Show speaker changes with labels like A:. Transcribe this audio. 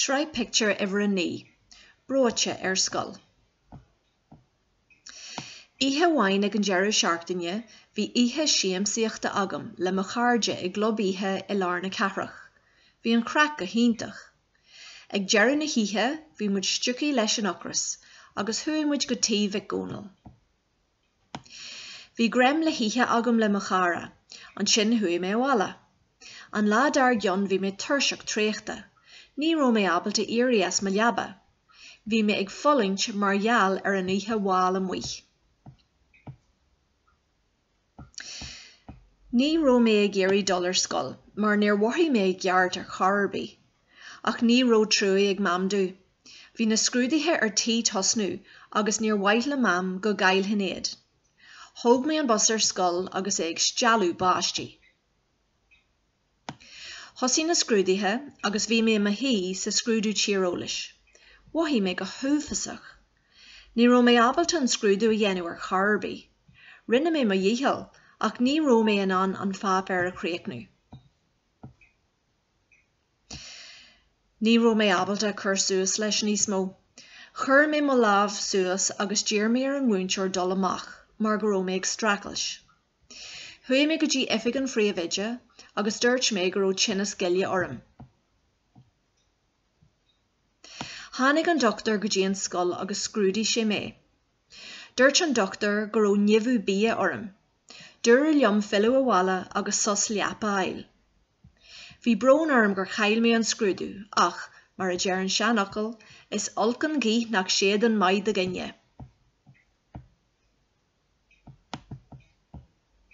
A: Sraith Pictiúr Uimhir a Naoi, Breoite ar Scoil. Oíche amháin ag an deireadh seachtaine bhí oíche siamsaíochta agam le mo chairde i gclub oíche i lár na cathrach. Bhí an chraic go hiontach. Ag deireadh na hoíche bhí muid stiúgtha leis an ocras agus chuaigh muid go tigh Mhic Dhónaill. Bhí greim le hithe agam le mo chara, ansin chuaigh mé abhaile. An lá dar gcionn bhí mé tuirseach traochta. Ní raibh mé ábalta éirí as mo leaba. Bhí mé ag fulaingt mar gheall ar an oíche mhall amuigh. Ní raibh mé ag iarraidh dul ar scoil mar níor mhothaigh mé i gceart ar chor ar bith. Ach ní raibh trua ag Mam domh. Bhí na scrúduithe ar tí tosnú agus níor mhaith le Mam go gcaillfinn iad. Thóg mé an bus ar scoil agus é ag stealladh báistí. Thosaigh na scrúduithe agus bhí mé i mo shuí sa scrúdú tíreolais. Mhothaigh mé go huafásach. Ní raibh mé ábalta an scrúdú a dhéanamh ar chor ar bith. Rinne mé mo dhícheall ach ní raibh mé in ann an pháipéar a chríochnú. Ní raibh mé ábalta cur suas leis níos mó. Chuir mé mo lámh suas agus d'iarr mé ar an múinteoir dul amach mar go raibh mé ag streachailt. Chuaigh mé go dtí oifig an Phríomhoide agus dúirt mé go raibh tinneas goile orm. Tháinig an doctúir go dtí an scoil agus scrúdaigh sé mé. Dúirt an doctúir go raibh nimhiú bia orm. Dúradh liom filleadh abhaile agus sos leapa a fháil. Bhí brón orm gur chaill mé an scrúdú ach, mar a deir an seanfhocal, is olc an ghaoth nach séideann maith do dhuine.